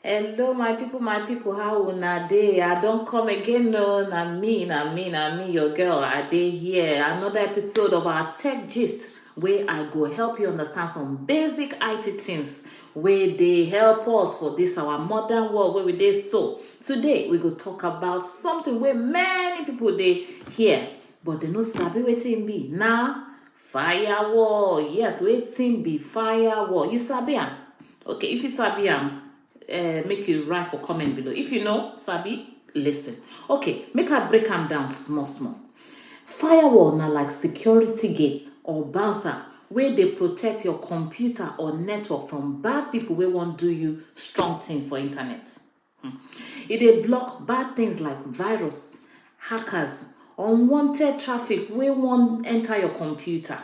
Hello, my people, my people, how una dey? I don come again, no, na me, na me, na me, your girl. I dey here. Another episode of our Tech Gist, where I go help you understand some basic IT things wey dey help us for this our modern world wey we dey so. Today, we go talk about something wey many people dey hear, but they no sabi wetin e be. Na Firewall. Yes, waiting be firewall. You sabi am? Okay, if you sabi am, uh, make you write for comment below. If you know, sabi, listen. Okay, make I break am down small small. Firewall na like security gates or bouncer wey dey protect your computer or network from bad people wey wan do you strong thing for internet. E dey block bad things like virus, hackers, unwanted traffic wey wan enter your computer.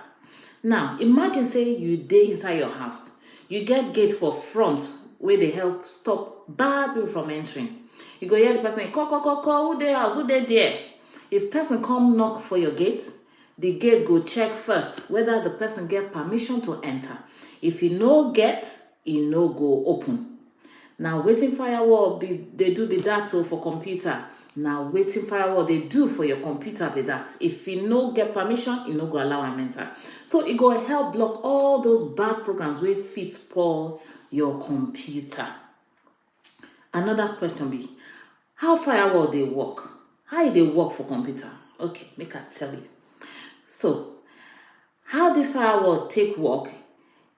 Now, imagine say you dey inside your house, you get gate for front wey dey help stop bad people from entering. You go hear the person, ko ko ko ko, who dey house, who dey there? If person come knock for your gate, the gate go check first whether the person get permission to enter. If e no get, e no go open. na wetin firewall be dey do be that o oh, for computer na wetin firewall dey do for your computer be that if e no get permission e no go allow am enter so e go help block all those bad programs wey fit spoil your computer another question be how firewall dey work how e dey work for computer okay make i tell you so How dis firewall take work,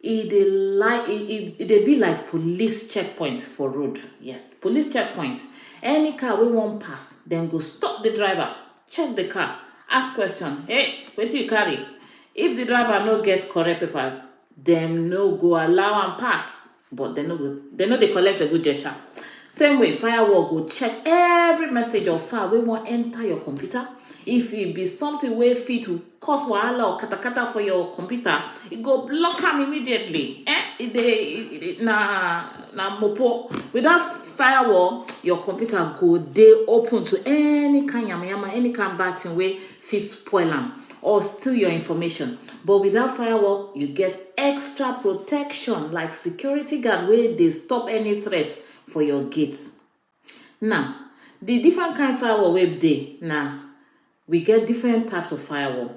e dey like e e, e dey be like police checkpoint for road yes police checkpoint any car wey wan pass dem go stop the driver check the car ask question hey wetin you carry if the driver no get correct papers dem no go allow am pass but dem no go dem no dey collect eguje sha same way firewall go check every message or file wey wan enter your computer if e be something wey fit cause wahala or katakata for your computer e go block am immediately eh e dey e- e- e- na na mopo without firewall your computer go dey open to any kind yamayama any kind bad thing wey fit spoil am or steal your information but with dat firewall you get extra protection like security guard wey dey stop any threat for your gate. Now di different kain firewall wey dey na we get different types of firewall,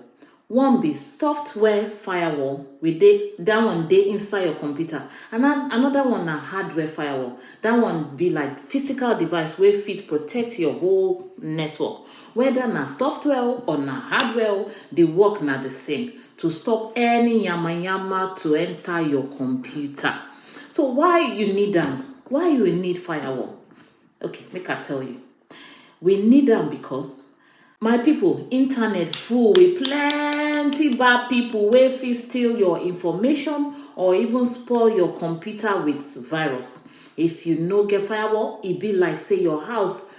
one be software firewall we dey dat one dey inside your computer and anoda one na hardware firewall dat one be like physical device wey fit protect your whole network. Whether na software o or na hardware o, the work na the same to stop any yamayama to enter your computer. So why you need am? Why you need firewall? Okay, make I tell you. We need am because my people, internet full with plenty bad people wey fit steal your information or even spoil your computer with virus. If you no get firewall, e be like say your house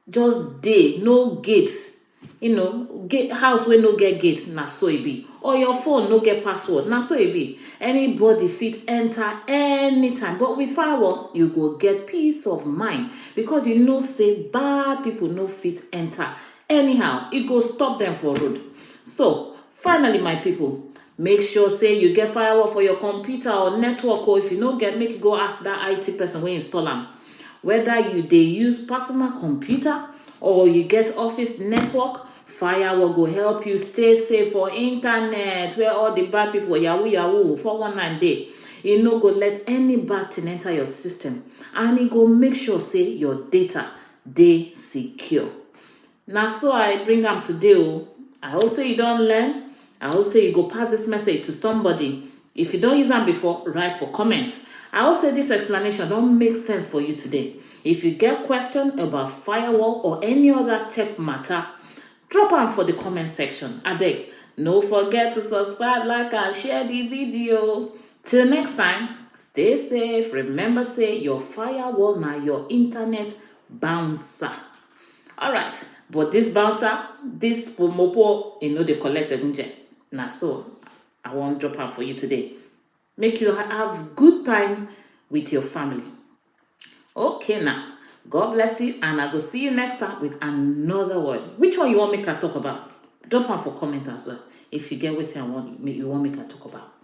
just dey no gate you know gate house wey no get gate na so e be or your phone no get password na so e be anybody fit enter anytime but with firewall you go get peace of mind because you know say bad people no fit enter anyhow e go stop them for road so Finally my people, make sure say you get firewall for your computer or network or if you no get make you go ask that IT person wey install am. Whether you dey use personal computer or you get office network, firewall go help you stay safe for internet where all the bad people yahoo yahoo 419 dey. E no go let any bad thing enter your system and e go make sure say your data dey secure. Na so I bring am today o. I hope say you don learn. I hope say you go pass this message to somebody. If you don use am before, write for comment. I hope say this explanation don make sense for you today. If you get question about firewall or any other tech matter, drop am for the comment section. Abeg, no forget to subscribe, like and share the video. Till next time, stay safe. Remember say your firewall na your internet bouncer. alright but this bouncer this pomopo e no dey collect egunje na so i wan drop am for you today make you have good time with your family okay now god bless you and i go see you next time with another word which one you wan make i talk about drop am for comment as well if you get wetin i want you wan make i talk about